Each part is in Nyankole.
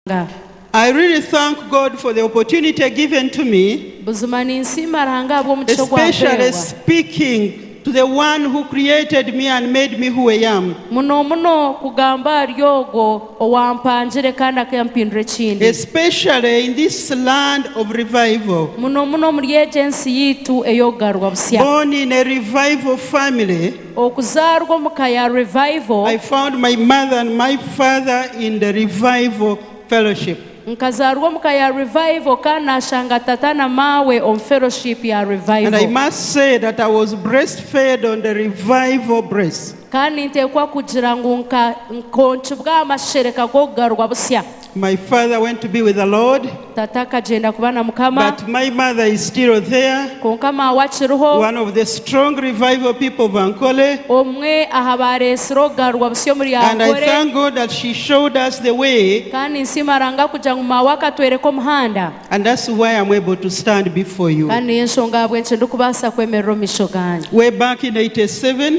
Ruhanga. I really thank God for the opportunity given to me, Buzima ninsiima Ruhanga ahabw'omugisha ogu especially ampeebwa. speaking to the one who created me and made me who I am. Muno muno kugamba ahari ogwo owaampangire kandi akampindura ekindi. Especially in this land of revival. Muno muno omuri egi ensi yaitu ey'okugarurwa busya. Born in a revival family. Okuzaarwa omu ka ya Revival. I found my mother and my father in the Revival fellowship. Nkazaarwa omu ka ya Revival kandi nashanga tata na maawe omu fellowship ya And I Revival. must say that I was breastfed on the Revival breast. Kandi ninteekwa kugira ngu nka nkonkibwa aha mashereka g'okugarurwa busya. My father went to be with the Lord. Tata akagenda kuba na mukama. But my mother is still there. Konka mawe akiriho. One of the strong revival people of Ankole. Omwe aha baresire okugarurwa busya omuri Ankole. And I thank God that she showed us the way. Kandi ninsiima Ranga kugira ngu mawe akatwereka omuhanda. And that's why I'm able to stand before you. Kandi niyo enshonga ahabw'enki ndi kubasa kwemerera omu misho ganyu. Way back in 87.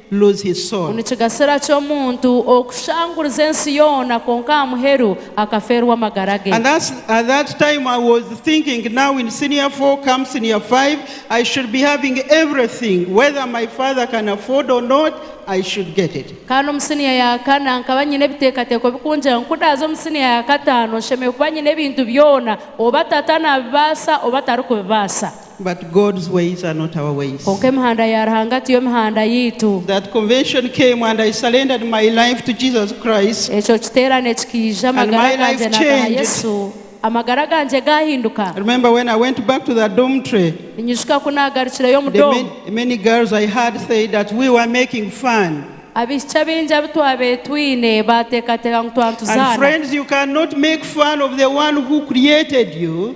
lose his soul. Nikigasira ki omuntu okushanguriza ensi yoona kwonka aha muheru akafeerwa amagara ge? And that's at that time I was thinking now in senior four come senior five I should be having everything whether my father can afford or not I should get it. Kandi omu senior ya kana nkaba nyine ebiteekateeko bikungira ngu ku ndaaza omu senior ya kataano nshemereire kuba nyine ebintu byoona oba tata nabibaasa oba tarikubibaasa. But God's ways are not our ways. Kwonka emihanda ya Ruhanga tiyo mihanda yaitu. That convention came and I surrendered my life to Jesus Christ. Ekyo kiteerane kikaija, And amagara my life gangye nagaha changed. Yesu. Amagara gangye gaahinduka. I remember when I went back to the dormitory, Ninyijuka ku naagarukireyo omu the doomu. many, many girls I had said that we were making fun. Abaishiki abaingi abu twabaire twine baateekateeka ngu And twatuzaana. friends, you cannot make fun of the one who created you.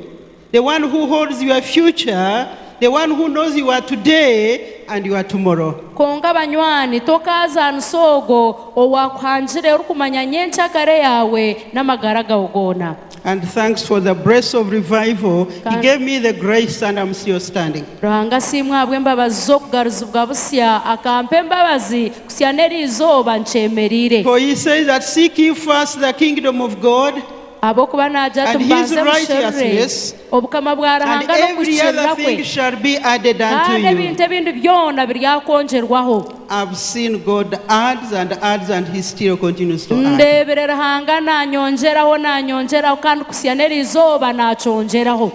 The one who holds your future, the one who knows your today and your tomorrow. Kwonka banywani, tokaazaanisa ogwo owaakuhangire orikumanya nyenkyakare yaawe n'amagara gawe goona. And thanks for the breath of revival, he gave me the grace and am still standing. Ruhanga asiimwe ahabw'embabazi z'okugaruzibwa busya, akampa embabazi kusya n'eri izooba nkyemereire. For he says that seek ye first the kingdom of God. Ahabw'okuba naagira ati, Mubanze mushorore, obukama bwa Ruhanga n'okuhikiirira kwe, kandi ebintu ebindi byona biryakwongyerwaho. Ndeebire Ruhanga naanyongyeraho, naanyongyeraho, kandi kutsya n'erizooba naakyongyeraho.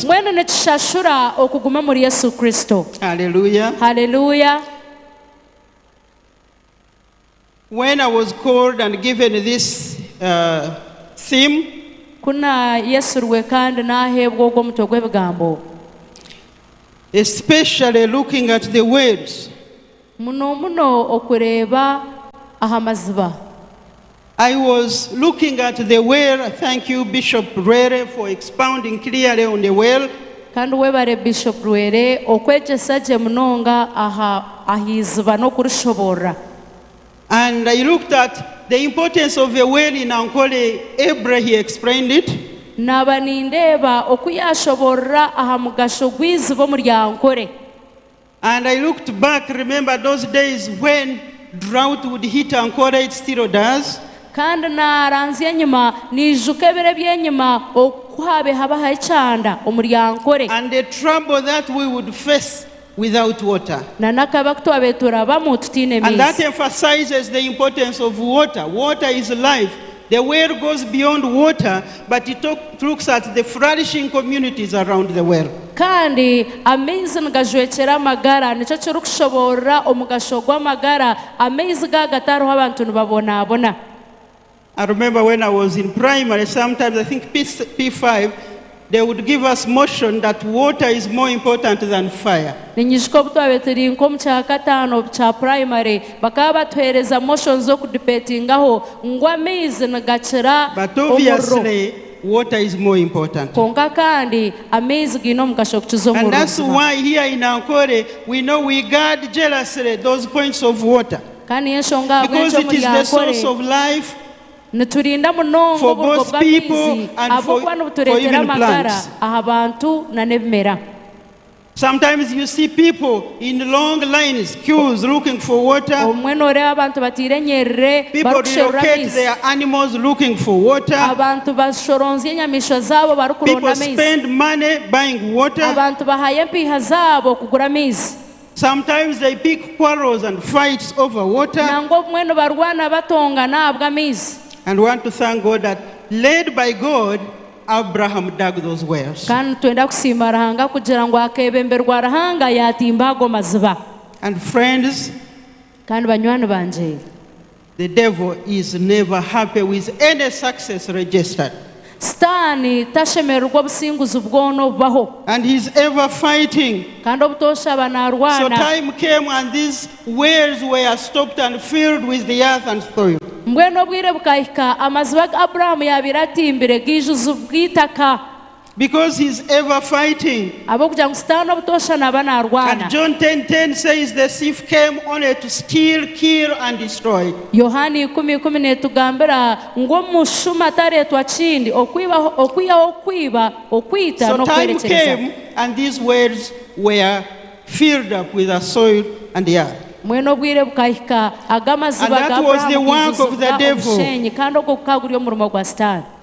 Mbwenu nikishashura okuguma omuri Yesu Kristo. Haleluya! When I was called and given this theme. Ku naayetsirwe kandi naaheebwa ogwo mutwe gw'ebigambo. Especially looking at the wells. Muno muno okureeba aha maziba. I was looking at the well, thank you Bishop Lwere for expounding clearly on the well. Kandi webare Bishop Rwere okwegyesa gye munonga aha aha iziba n'okurishoborora. And I looked at the importance of a well in Ankole Ebre he explained it. Naaba nindeeba oku yaashoborora aha mugasho gw'iziba omuri Ankole. And I looked back remember those days when drought would hit Ankole it still does. Kandi naaranzya enyima naijuka ebiro eby'enyima oku ku haabaire habaho ekyanda omuri Ankole. And the trouble that we would face without water. Na n'akabi aku twaabaire turabamu tutaine maizi. And that emphasizes the importance of water, water is life. The well goes beyond water but it looks at the flourishing communities around the well. Kandi amaizi nigajwekyera amagara, nikyo kirikushoboorora omugasho gw'amagara, amaizi ga gatariho abantu nibabonaabona. I remember when I was in primary sometimes I think P5 Ninyijuka obu twabaire turi nk'omu kyakataano kya purayimare, bakaba batuheereza motion z'okudibetingaho ngu amaizi nigakira omuriro. Kwonka kandi, amaizi gaine omugasho kukiza omuriro. Kandi niyo nshonga ahabw'enki omuri Ankole. Niturinda munonga oburugo bw'amaizi ahabw'okuba nibutureetera amagara aha bantu nana ebimera. Obumwe nooreeba abantu bataire enyerere barikusherura amaizi. Abantu bashoronzya enyamaishwa zaabo barikuronda amaizi. Abantu bahaayo empiiha zaabo kugura amaizi. Sometimes they pick quarrels and fights over water. Nangwa obumwe nibarwana batongana ahabw'amaizi. And want to thank God that led by God Abraham dug those wells. Kandi nitwenda kusiima Ruhanga kugira ngu akebemberwa Ruhanga yatimba ago maziba. And friends. Kandi banywani bangye. The devil is never happy with any success registered. Sitaani tashemererwa obusinguzi bwona obubaho. And he is ever fighting. Kandi obutoosha aba So naarwana. time came and these wells were stopped and filled with the earth and soil. Mbwenu obwire bukahika amaziba agu Abrahamu yaabaire atimbire gaijuzibwa eitaka. Because he's ever fighting. Ahabw'okugira ngu Sitaane obutoosha naaba And naarwana. John ten ten says the thief came only to steal, kill and destroy. Yohaana ikumi ikumi neetugambira ngu omushuma tareetwa kindi okwibaho okwihaho okwiba, okwita So time n'okwerekyereza. came and these wells were filled up with the soil and the earth. Mbwenu obwire bukahika aga And amaziba that ga was the Aburahamu work of the gaijuzibwa devil. omusheenyi, kandi ogwo gukaba guri omurimo gwa Sitaane.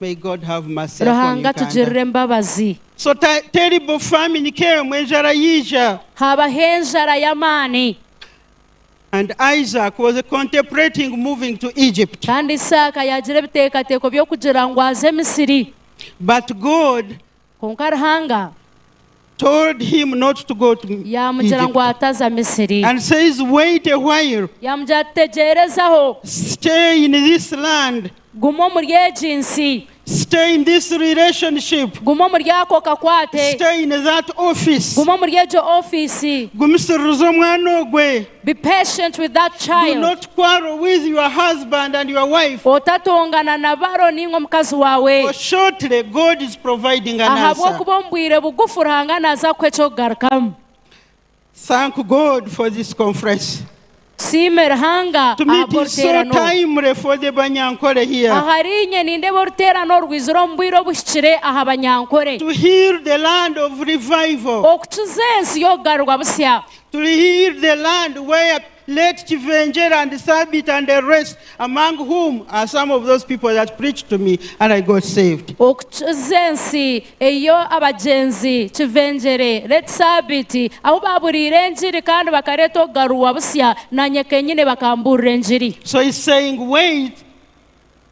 May God have mercy upon you Ruhanga Uganda. atugirire embabazi. So ta terrible famine ke mwe enjara yija. Haabaho enjara y'amaani. And Isaac was contemplating moving to Egypt. Kandi Isaaka yaagira ebiteekateeko by'okugira ngu aze Misiri. But God Kwonka Ruhanga told him not to go to yaamugira ngu Egypt ataza Misiri. and says, Wait a while, Yaamugira ati, Tegyereza-ho, stay in this land, guma omuri egi nsi, stay in this relationship, guma omuri ako kakwate, stay in that office. guma omuri egyo ofiisi, Gumisiririza omwana ogwe. Be patient with that child. Do not quarrel with your husband and your wife. Otatongana na baro ninga omukazi wawe. For shortly God is providing an answer. Ahabw'okuba omu bwire bugufu Ruhanga naza kukuha eky'okugarukamu. Thank God for this conference. Tusiime Ruhanga To me it is so ahabw'oruteerano. timely for the Banyankole here. Ahari inye nindeeba oruteerano oru rwizire omu bwire obuhikire aha Banyankole. To heal the land of revival. Okukiza ensi y'okugarurwa busya. Turi heal the land where late kivengyera and sabiiti and the rest among whom are some of those people that preached to me and I got saved. Okukiza ensi eyo abagyenzi kivengyere, late sabiiti, ahu baaburiire engiri kandi bakareeta okugarurwa busya, naanye kenyine bakamburira engiri. So he's saying wait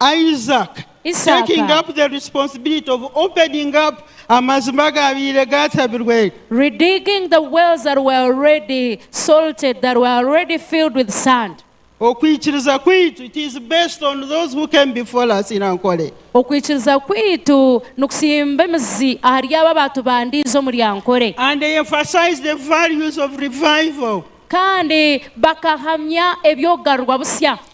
Isaaka Isaaka Redigging the wells that were already salted, that were already filled with sand. Okwikiriza kwaitu, it is based on those who came before us in Ankole. Okwikiriza kwaitu nikutsimba emizi ahari abo abaatubandiize omuri Ankole. And they emphasized the values of revival. Kandi bakahamya eby'okugarurwa busya.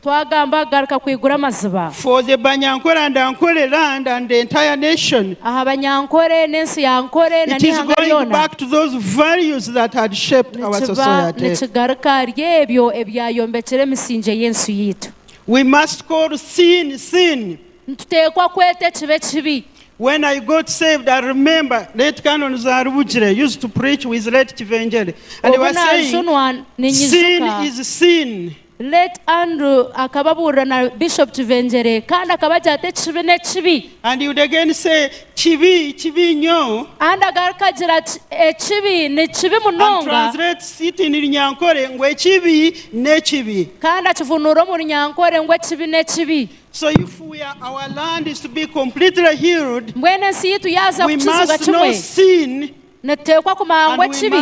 Twagamba kugaruka kwigura amaziba. For the Banyankore and Ankore land and the entire nation. Aha Banyankore n'ensi ya Ankore na It is n'eihanga going ryona. back to those values that had shaped our Nikiba society. nikigaruka ahari ebyo ebyayombekire emisingye y'ensi yaitu. We must call sin, sin. Nituteekwa kweta ekibi ekibi. When I got saved, I remember late Canon Zarubugire used to preach with late Kivengere and he Obu was saying, naajunwa, ninyijuka. Sin is sin. Late Andrew akaba abuurira na Bishop Kivengyere kandi akaba agira ati ekibi n'ekibi. And he would again say, Kibi, kibi nyo. Kandi agaruka agira ati ekibi ni kibi And munonga. translates it in Runyankore ngu ekibi n'ekibi. Kandi akivunuura omu Runyankore ngu ekibi n'ekibi. So if we are, our land is to be completely healed, Mbwenu ensi yaitu yaaza we kukizibwa must know kimwe. sin Nituteekwa kumangwa ekibi.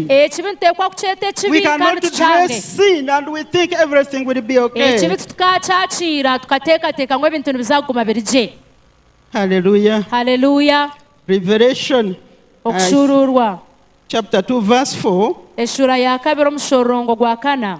Ekibi nituteekwa kukyeta ekibi kandi tukyange. Ekibi titukaakyakiira tukateekateeka ngu ebintu nibiza kuguma biri gye. Haleluya! Okushuuruurwa eshuura ya kabiri omushororongo gwa kana.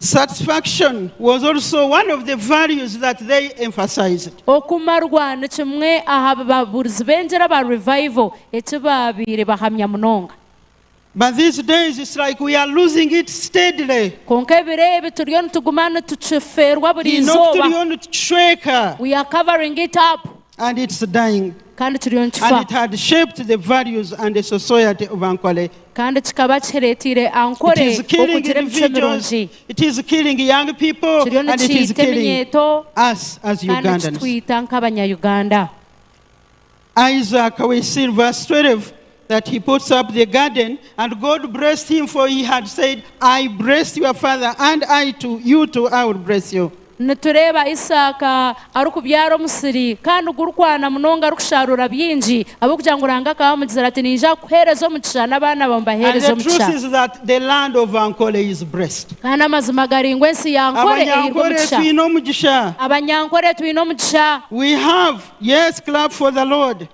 Satisfaction was also one of the values that they emphasized. Okumarwa ni kimwe aha bi babuurizi b'engyera aba Revival eki baabaire bahamya munonga. But these days it's like we are losing it steadily. Kwonka ebiro ebi turiyo nituguma nitukifeerwa buri Twine oku izooba. turiyo nitukishweka. We are covering it up. and it's dying, kandi kiriyo and nikifa, it had shaped the values and the society of Ankole. kandi kikaba kihireteire It Ankole is killing okugira emicwe individuals, mirungi. it is killing young people, Kiriyo and it is nikiita killing eminyeeto us as kandi Ugandans. nikitwita nk'Abanyayuganda. Isaac Waisir, verse 12, that he puts up the garden and God blessed him for he had said I bless your father and I to you too I will bless you. Nitureeba Isaaka arikubyara omusiri kandi gurikwana munonga arikusharuura byingi ahabw'okugira ngu Ruhanga akaba amugizire ati ninja kukuheereza omugisha n'abaana baawe mbaheereze omugisha. Kandi amazima gari ngu ensi ya Ankore eirwe omugisha. Abanyankore twine omugisha. We have, yes clap for the Lord.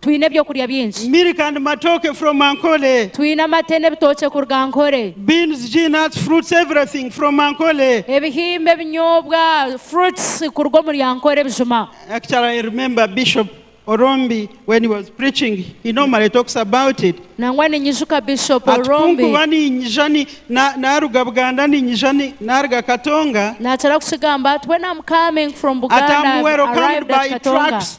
Twine ebyokurya bingi. Milk and matoke from Ankole. Twine amate n'ebitookye kuruga Ankole. Beans, G nuts, fruits, everything from Ankole. Ebihimba, ebinyobwa, fruits, kuruga omuri Ankole Bijuma. Actually I remember Bishop Orombi when he was preaching he normally talks about it. Nangwa ninyijuka Bishop Ati Orombi. kunkuba ninyija ni na naruga Buganda ninyija ni naruga Katonga. Nakira kukigamba ati when I'm coming from Ati Buganda I'm I've welcomed arrived at by Katonga. trucks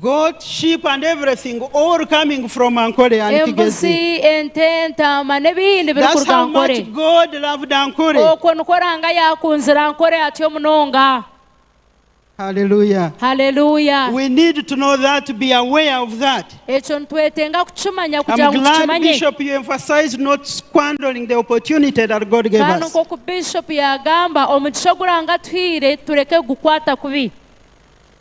Goat, sheep and everything all coming from Ankole and Kigezi. Embuzi, ente, entaama n'ebindi biri That's kuruga how much Ankole. God loved Ankole. Okwo nikwo Ranga yaakunzire Ankole atyo munonga. Hallelujah. Hallelujah. We need to know that, to be aware of that. Ekyo nitwetenga kukimanya kugira I'm ngu glad tukimanye. Bishop you emphasized not squandering the opportunity that God gave Kandi us. nk'oku Bishop yaagamba, omugisha ogu Ranga atuhaire tureke kugukwata kubi.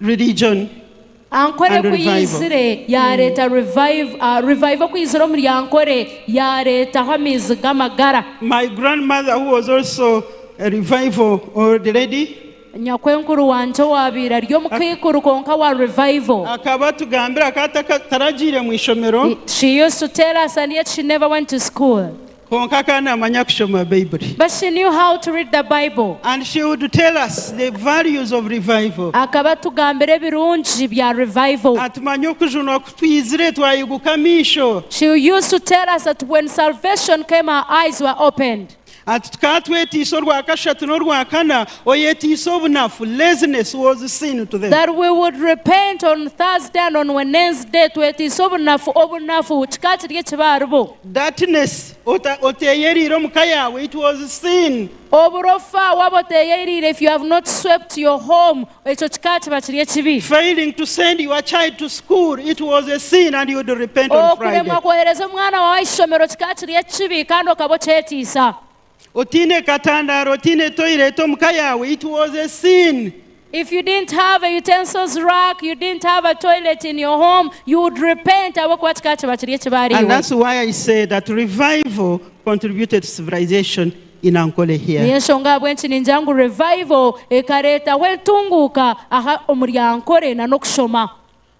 Religion Ankore and ku revival. yaizire yaareeta revive, ah, revival ku yaizire omuri Ankore yaareetaho amaizi g'amagara. My grandmother who was also a revival old lady Nyakwenkuru wangye owaabaire ari omukaikuru kwonka wa revival. akaba atugambira akaba ataka taragiire mu ishomero. She used to tell us and yet she never went to school. Kwonka akaba namanya kushoma Baibuli. But she knew how to read the Bible. And she would tell us the values of revival. Akaba atugambira ebirungi bya revival. Atumanya okujunwa ku twizire twayeguka amaisho. She used to tell us that when salvation came our eyes were opened. Ati tukaba twetiisa orwa kashatu n'orwa kana, oyetiisa obunafu, laziness, was sin to them. That we would repent on Thursday and on Wenensday, twetiisa obunafu, obunafu kikaba kiri ekibi aharibo. Darkness, ota, oteyereire omu ka yaawe, it was sin. Oburofa, waaba oteyereire, if you have not swept your home, ekyo kika kiba kiri ekibi. Failing to send your child to school, it was a sin and you would repent on Friday. Okuremwa kwohereza omwana waawe aha ishomero kika kiri ekibi kandi okaba okyetiisa. Otiine katandaaro, otiine toilet omu ka yaawe, it was a sin. If you didn't have a utensils rack, you didn't have a toilet in your home, you would repent ahabw'okuba kikaba kiba kiri ekibaare And iwe. that's why I said that revival contributed to civilization in Ankole here. Niyo enshonga ahabw'enki ningira ngu revival ekareetaho entunguuka aha omuri Ankole na n'okushoma.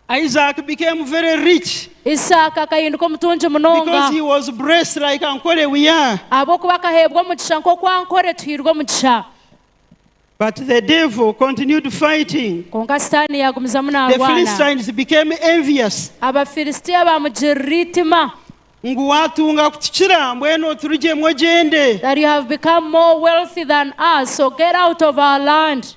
Isaac became very rich. Isaaka akahinduka omutungi munonga. Because he was blessed like Ankore we are. Ahabw'okuba akaheebwa omugisha nk'oku Ankore tuhairwe omugisha. But the devil continued fighting. Kwonka Sitaane yaagumizamu naarwana. The Philistines became envious. Abafilistia baamugirira eitima. Ngu waatunga kutukira, mbwenu oturugyemu ogyende. That you have become more wealthy than us, so get out of our land.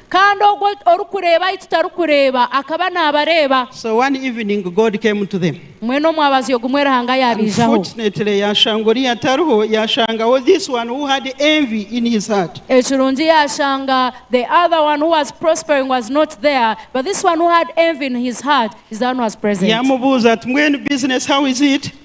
Kandi ogwo orikureeba ahi tutarikureeba akaba naabareeba. So one evening God came to them. Mbwenu omwabazi ogumwe Ruhanga yaabaijaho. Unfortunately yaashanga oriya tariho, yaashangaho this one who had envy in his heart. Ekirungi yaashanga the other one who was prospering was not there, but this one who had envy in his heart is the one who was present. Yaamubuuza ati, Mbwenu business how is it?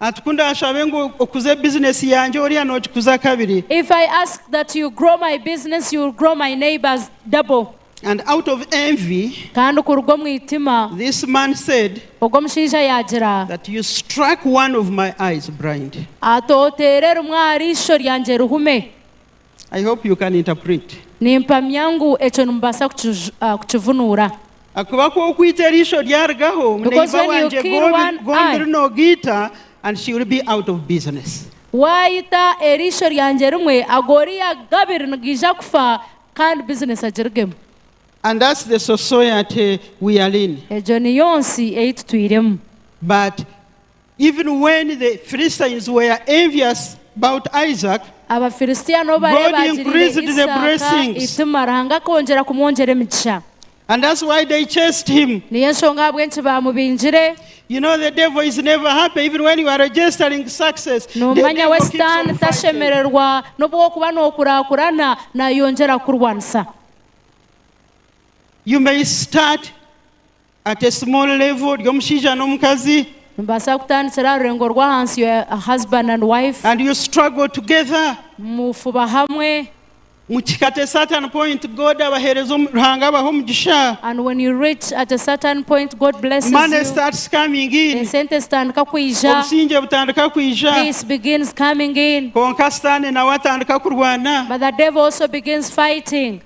Ati, Ku ndaashabe ngu okuze bizinesi yangye oriya noogikuza kabiri. If I ask that you grow my business, you will grow my neighbour's double. And out of envy, Kandi kuruga omu itima, this man said ogwo omushaija yaagira. that you struck one of my eyes blind. Ati, Oteera erimwe ahari isho ryangye rihume. I hope you can interpret. Nimpamya ngu ekyo nimubaasa kukivunuura. Ahakuba ku okwita eriisho ryarugaho muneiba wangye gombi rinogiita and she will be out of business. Waayita eriisho ryangye rimwe ag'oriya g'abiri nigaija kufa kandi bizinesi agirugemu. And that's the society we are in. Egyo niyo nsi ei tutwiremu. But Even when the Philistines were envious bout Isaac, Abafilistia n'obu bareeba God bagiriire increased the Isaaka blessings. eitima, Ruhanga akoongyera kumwongyera emigisha. and that's why they chased him. Niyo enshonga ahabw'enki baamubingire. You know the devil is never happy even when you are registering success. The Noomanya devil we keeps Sitaani on fighting. tashemererwa n'obu orikuba nookuraakurana, naayongyera kukurwanisa. You may start At a small level ry'omushaija n'omukazi. Nimubaasa kutandikira aha rurengo rw'ahansi your husband and wife. And you struggle together. Mufuba hamwe. Mukihika at a certain point God abaheereza omu Ruhanga abaha omugisha. And when you reach at a certain point God blesses you. Money starts coming in. Esente zitandika kwija. Obusingye butandika kwija. Peace begins coming in. Kwonka sitaane nawe atandika kurwana. But the devil also begins fighting.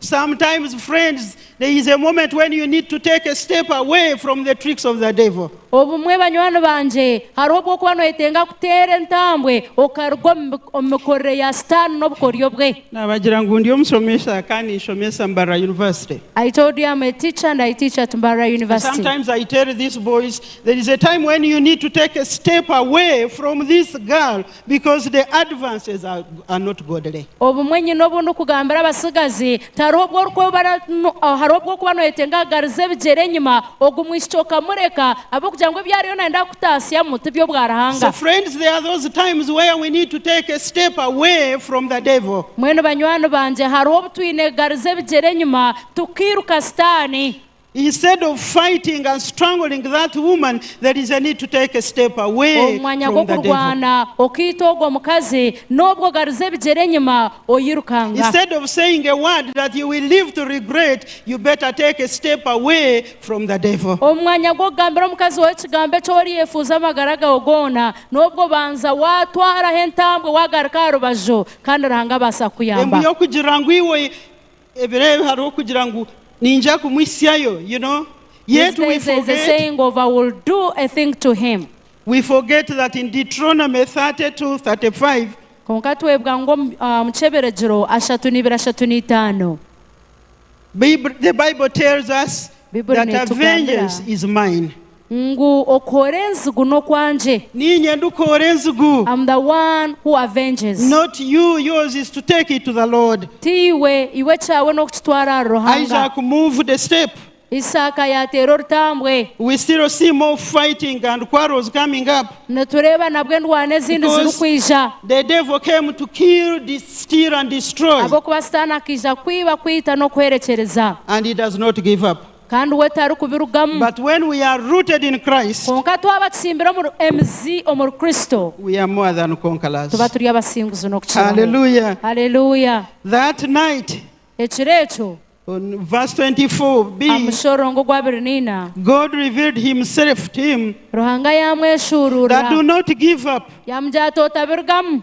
Sometimes friends there is a moment when you need to take a step away from the tricks of the devil. Obumwe banywani bangye hariho obu okuba noyetenga kuteera entambwe okaruga omu mikorere ya sitaani n'obukoryo bwe. Nabagira ngu ndi omushomesa kandi ninshomesa Mbarara University. I told you am a teacher and I teach at Mbarara University. Sometimes I tell these boys there is a time when you need to take a step away from this girl Because the advances are not godly. Obumwe nyine obu ndikugambira abatsigazi, tihariho obu orikwebara ahari obw'okuba noyetenga kugariza ebigyere enyima ogu mwishiki okamureka ahabw'okugira ngu ebi ariyo nayenda kukutaasyamu ti by'obwa Ruhanga. So friends, there are those times where we need to take a step away from the devil. Mbwenu banywani bangye, hariho obu twine kugariza ebigyere enyima tukairuka Sitaane. Omu mwanya gw'okurwana okaita ogwo mukazi, n'obu ogariza ebigyere enyima oyirukanga. Omu mwanya gw'okugambira omukazi waawe ekigambo eki oriyefuuza amagara gaawe goona, n'obwo banza waatwaraho entambwe waagaruka aha rubaju, kandi Ruhanga abaasa kukuyamba. Ebiro ebi hariho kugira ngu ninja kumwitsyayo you know These yet we days there is a forget saying of I will do a thing to him. we forget that in Deuteronomy 32, 35 Kwonka twebwa ngu omu ah, omu kyeberegiro ashatu na ibiri ashatu na itaano, Bib- the Bible tells us Bibuli that neetugambira. vengeance is mine. Ngu okoora enzigu n'okwangye. Niinye ndikoora enzigu. Am the one who avenges. Not you, yours is to take it to the Lord. Tiiwe, iwe ekyawe n'okukitwara ahari Ruhanga. Isaac moved a step. Isaaka yateera orutambwe. We still see more fighting and quarrels coming up. Nitureeba nabwo endwano ezindi zirikwija. Because the devil came to kill, steal and destroy. Ahabw'okuba Sitaane akaija kwiba, kwita n'okuhwerekyereza. And he does not give up. Kandi we tarikubirugamu. But when we are rooted in Christ. Kwonka twaba tutsimbire omuri, emizi omuri Kristo. We are more than conquerors. Tuba turi abasinguzi n'okukiraho. Hallelujah. Hallelujah. That night. Ekiro ekyo. On verse 24b. Aha mushororongo ogwa abiri na ina. God revealed himself to him. Ruhanga yamweshuururira. That do not give up. Yamugira ati, Otabirugamu.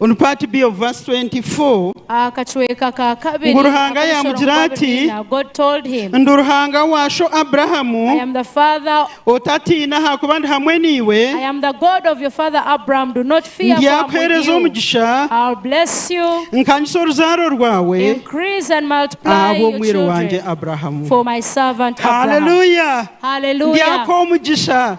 On part B of verse 24, Aha kacweka ka kabiri Ngu Ruhanga ak'ebisoro yaamugira nkoorro ati, biina, God told him, Ndi Ruhanga wa sho Abrahamu, I am the Father, otatiina ahakuba ndi hamwe naiwe, I am the God of your father Abraham, do not fear, for I am with ndyakuheereza you. omugisha, I'll bless you, nkanyise oruzaaro rwawe increase and multiply your ahabw'omwiru wangye children Abrahamu. for my servant Abraham. Haleluya! Hallelujah. Ndyaka omugisha.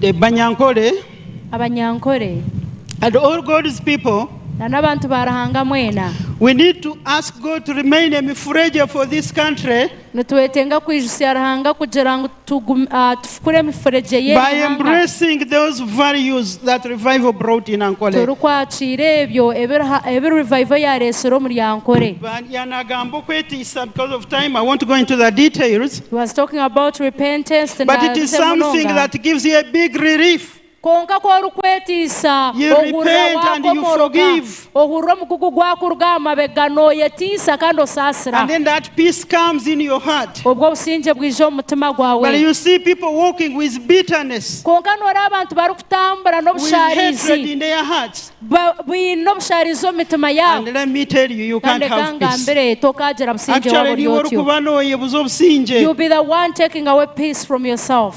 The Banyankole. Abanyankole. And all God's people. Na n'abantu ba Ruhanga mwena. We need to ask God to remain a mifuregye for this country. Nitwetenga kwijutsya Ruhanga kugira ngu. tugum, ah, tufukure emifuregye y'eri By ihanga, embracing those values that revival brought in Ankole. turikwakiira ebyo ebi Ruha- ebi Revival yaareetsire omuri Ankole. Ba- ya- Nagamba okwetiisa because of time, I won't go into the details. He was talking about repentance, but it is tinaabize something munonga. that gives you a big relief. Kwonka ku orikwetiisa, ohurira waakomoroka, ohurira omugugu gwakuruga aha mabega, nooyetiisa kandi osaasira. Obwo obusingye bwija omu mutima gwawe. Kwonka nooreeba abantu barikutambura n'obushaarizi, baine obushaarizi omu mitima yaabo. Kandi reka nkugambire, tokaagira busingye waaba ori otyo. You'll be the one taking away peace from yourself.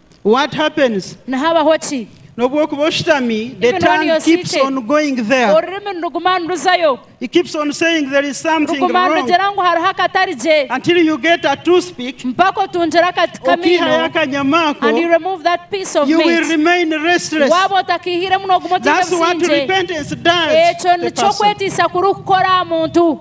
What happens? Nihabaho ki? N'obu okuba oshutami, the Even when tongue you're keeps seated. on going there. Orurimi niruguma niruzayo. It keeps on saying there is something Ruguma wrong nirugira ngu hariho akatari gye. until you get a toothpick, Mpaka otungire akati okihayo kamiino. akanyama ako, And you remove that piece of you will meat. remain restless. Waaba otakiihiremu nooguma otaine That's what busingye. repentance does. Ekyo to a nikyo person. kwetiisa kurikukora aha muntu.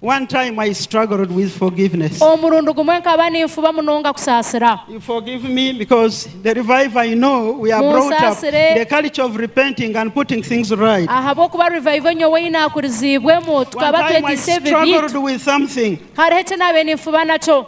One time I struggled with forgiveness. Omurundi gumwe nkaba ninfuba munonga kusaasira. You forgive me because the revival you know we are brought up Munsaasire. the culture of repenting and putting things right. Ahabw'okuba revival nyowe ei naakuriziibwemu One tukaba time I twetiise ebibi. struggled with something. Hariho eki naabaire ninfuba nakyo.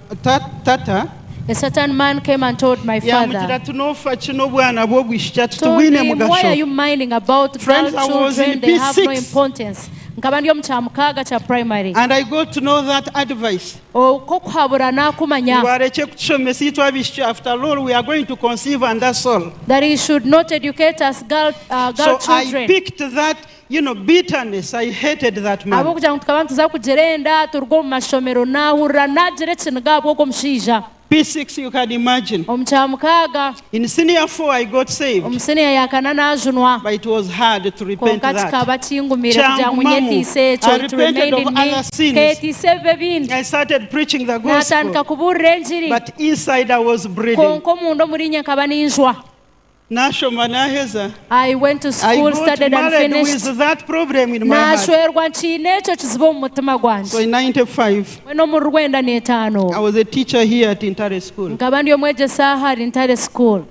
tata. A certain man came and told my father told him why are you minding about girl children they have no importance nkaba ndi omu kyamukaaga kya primary oku okuhabura nakumanya that he should not educate us girl children. You know bitterness I hated that man. Ahabw'okugira ngu tukaba nituza kugira enda turuga omu mashomero, naahurira naagira ekiniga ahabw'ogwo mushaija. P6 you can imagine. Omu kya mukaaga. In senior four I got saved. Omu senior ya kana naajunwa. But it was hard to repent Kwonka that. kikaba kingumire kugira ngu Kyangumamu. nyetiise ekyo. I It repented remained of in me. other sins. Nkeyetiisa ebibi ebindi. I started preaching the Naatandika gospel kubuurira engiri. but inside I was bleeding. Kwonka omunda omuriinye nkaba ninjwa. Naashoma naaheza. I went to school, studied and finished. Naashwerwa nkiine ekyo kizibu omu mutima gwangye. Mbwenu omuri rwenda n'etaano, nkaba ndi omwegyesa aha ahari Ntare School.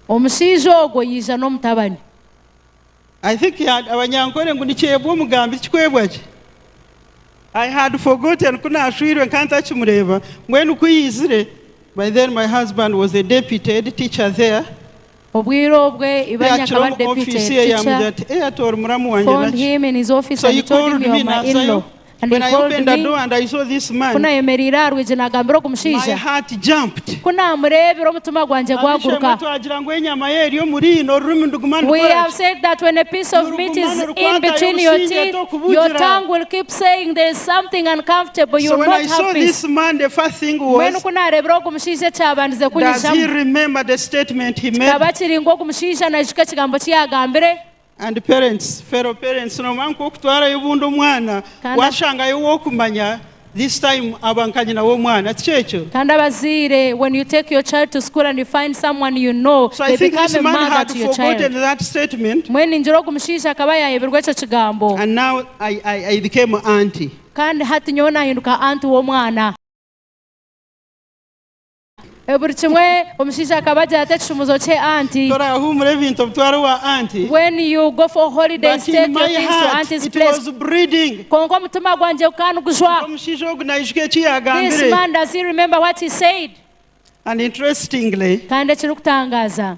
Omushaija ogwo yaija n'omutabani. I think abanyankore ngu nikyebwa omugambi tikikwebwa gye I had forgotten ku nashwirwe nka ntakimureeba mbwenu ku yaizire by then my husband was a deputy head teacher there Obwire obwe ibanya akaba ari deputy head teacher phoned him in his office and told him you're my in-law. Ku naayemereire aha rwigi naagambira ogu mushaija, ku naamureebire omutima gwangye gwaguruka. Mbwenu ku naareebire ogu mushaija ekyabandize kunyijamu, kikaba kiri ngu ogu mushaija naijuka ekigambo eki yaagambire. and parents, fellow parents nomanya nkoku kutwarayo obundi omwana Kandi ab- washangayo owokumanya this time aba nka nyina womwana tikyekyo? Kandi abazaire when you take your child to school and you find someone you know So I they think become this a man mother had to your forgotten child. that statement Mbwenu ningira ogu mushaija akaba yayebirwe ekyo kigambo. and now I, I, I became auntie. Kandi hati nyowe nahinduka aunt w'omwana. Buri kimwe omushaija akaba agira ati ekishumuzo kye anti. Torahuumura ebintu obitware owa anti. When you go for holidays But in take your my things to heart auntie's it place. was breeding. Kwonka omutima gwangye gukaba nigujwa. Kwonka omushaija ogu naijuka eki This yaagambire. man does he remember what he said? And interestingly, Kandi ekirikutangaaza.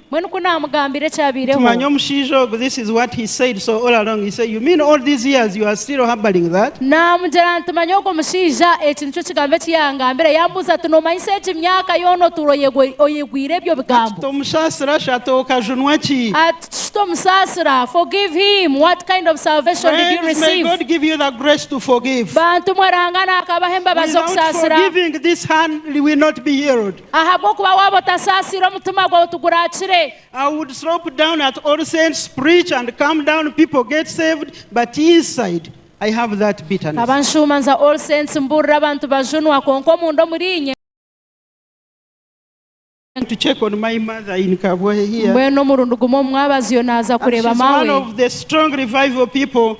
Mbwenu ku naamugambira ekyabaireho. Timanya omushaija ogu, this is what he said, so all along he said, you mean all these years you are still harboring that? Naamugira nti, Manya ogwo mushaija, eki nikyo kigambo eki yaangambira. Yaambuuza ati, Noomanyisa egi myaka yoona otuura oyegw oyegwire ebyo Ati, bigambo? Tomusaasira shi, ati, Okajunwa ki? Ati, Shi tomusaasira, forgive him, what kind of salvation did you Friends, may receive? God give you the grace to forgive. Bantu mwe Ranga naakabahe embabazi Without okusaasira. forgiving, this hand will not be healed. Ahabw'okuba waaba otasaasiire, omutima gwawe tiguraakire. I would slop down at all saints preach and calm down people get saved but inside I have that bitterness. Nkaba nshuuma nza all saints mbuurira abantu bajunwa kwonka omunda omuriinye. Came to check on my mother in Kabwe here. Mbwenu omurundi gumwe omu mwabazyo naaza kureeba maawe. She's one of the strong revival people.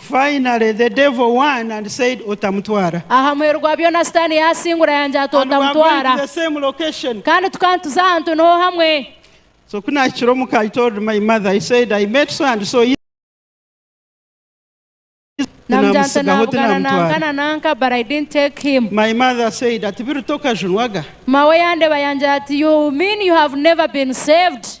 Finally the devil won and said Otamutwara. Aha muheru gwa byona Sitaane yaasingura yaagira ati, And we are going to Otamutwara. the same location. Kandi tukaba nituza ahantu niho hamwe. So ku naahikire omuka I told my mother, I said I met so and so yesterday Namugira nti, tinamutsigaho Naabugana nanka tinaamutwara. nanka but I didn't take him. My mother said ati biruta okajunwaga. Mawe yandeba yaagira ati, You mean you have never been saved?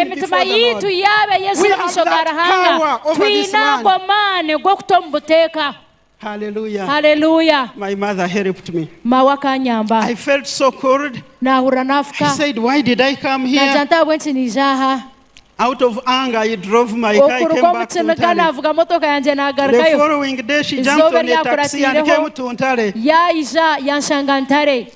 Emitima yaitu yaaba eyezire omu maisho ga Ruhanga, twine ago amaani g'okuta omu buteeka. Haleluya! Maawe akanyamba. Naahurira naafuka. Naagira nti, Ahabw'enki naija aha? Okuruga omu kiniga naavuga motoka yangye naagarukayo. Eizooba eryakuratiireho, yaija yanshanga Ntare.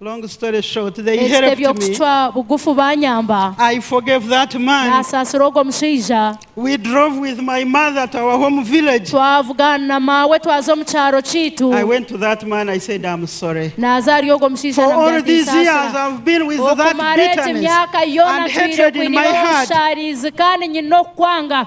Ekitebe by'okucwa bugufu baanyamba. Naasaasira ogwo mushaija. Twavugana na maawe twaza omu kyaro kyaitu. Naaza ahari ogwo mushaija namugambira nti, Nsaasira. Okumara egi myaka yoona ntwire nkwineho obushaarizi kandi nyine okukwanga.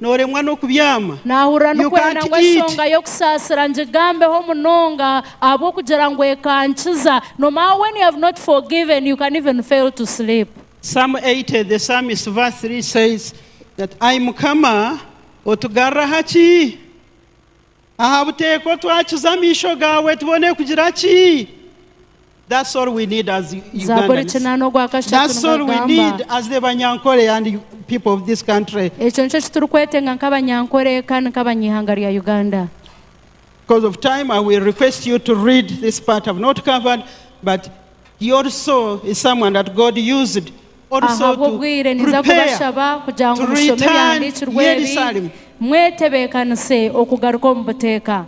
Nooremwa n'okubyama? Naahurira You nikwenda can't ngu eat? enshonga y'okusaasira ngigambeho munonga ahabw'okugira ngu ekankiza. No matter when you have not forgiven, you can even fail to sleep. Psalm 80, the psalmist, verse 3 says that, Ai Mukama, otugarra aha ki? Aha buteeko twakiza amaisho gaawe tubone kugira ki? Zaaburi ekinaana ogwa kashatu nigagamba. Ekyo nikyo eki turikwetenga nk'Abanyankore kandi nk'Abanyaihanga rya Uganda. Ahabw'obwire ninza kubashaba kugira ngu mushome ebyahandiikirwe ebi, mwetebeekanise okugaruka omu buteeka.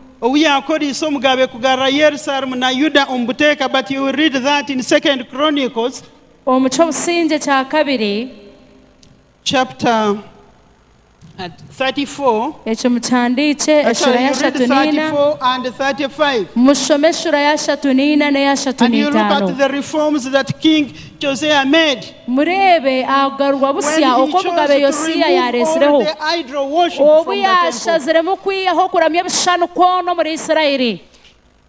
Omu ky'obusingye kya kabiri. chapter34. Ekyo mukyandiikye, That eshura shall you read y'ashatu niina, 34 and 35. mushome eshura y'ashatu niina n'eyashatu And you look at niitaano. the reforms that King Josiah made Mureebe aha kugarurwa when busya he oku omugabe chose to Yosia remove all yaareetsireho, the idol worship obu from the temple. yaashaziremu kwihaho kuramya ebishushani kwona omuri Isiraeli.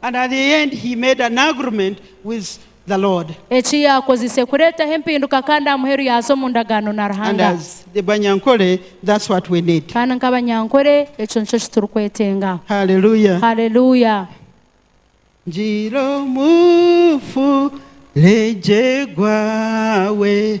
And at the end he made an agreement with the Lord. Eki yakozise kuretaho empinduka kandi amuheru yaza omu ndagaano na Ruhanga. And as the Banyankole that's what we need. Kandi nk'abanyankole ekyo nikyo eki turi kwetenga. Hallelujah. Hallelujah. Ngira omufurege gwawe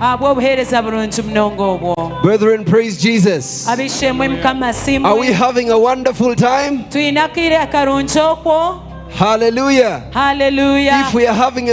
ahabw'obuheereza burungi munonga obwo. Brethren praise Jesus. Ab'eishe-emwe Mukama Are we asiimwe. having a wonderful time? Twine akaire akarungi okwo. Hallelujah. Haleluya! If we are having a